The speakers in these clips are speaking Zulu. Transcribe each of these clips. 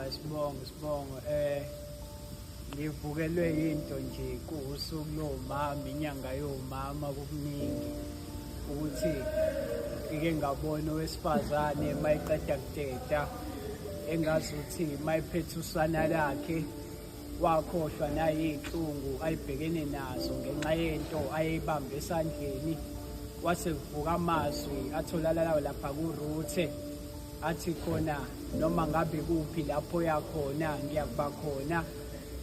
Sibongo, sibongo. Eh ngivukelwe into nje kuwusuku lomama inyanga yomama kukuningi ukuthi ngike ngabona owesifazane mayiqeda kuteta engazi ukuthi mayiphethe usana lakhe wakhohlwa nayiy'nhlungu ayibhekene nazo ngenxa yento ayeyibambe esandleni wase kuvuka amazwi atholalalayo lapha kuruthe athi khona noma ngabe kuphi lapho yakhona ngiyakuba khona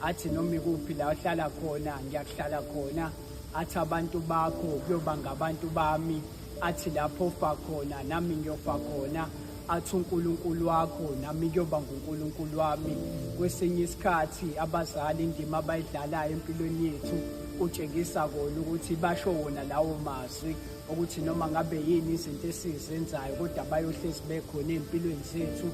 athi noma ikuphi la uhlala khona ngiyakuhlala khona athi abantu bakho kuyoba ngabantu bami athi lapho ufa khona nami ngiyofa khona athi uNkulunkulu wakho nami kuyoba nguNkulunkulu wami kwesinye isikhathi abazali indima abayidlalayo empilweni yethu utshengisa kona ukuthi basho wona lawo mazwi ukuthi noma ngabe yini izinto esizenzayo kodwa bayohlezi bekhona ey'mpilweni zethu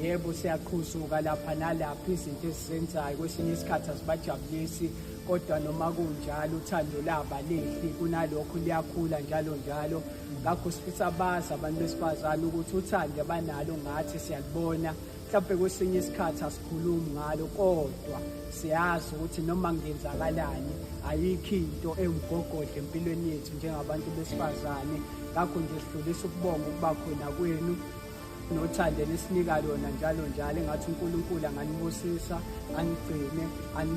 yebo siyaqhuzuka lapha nalapha izinto esizenzayo kwesinye isikhathi asibajabulisi kodwa noma kunjalo uthando laba lehli kunalokho liyakhula njalo njalo ngakho sifisa bazi abantu besifazane ukuthi uthando abanalo ngathi siyalibona mhlawumbe kwesinye isikhathi asikhulumi ngalo kodwa siyazi ukuthi noma ngenzakalani ayikho into ewumgogodla empilweni yethu njengabantu besifazane ngakho nje sidlulisa ukubonga ukuba khona kwenu nothando enisinika lona njalo njalo engathi unkulunkulu anganibusisa anigcine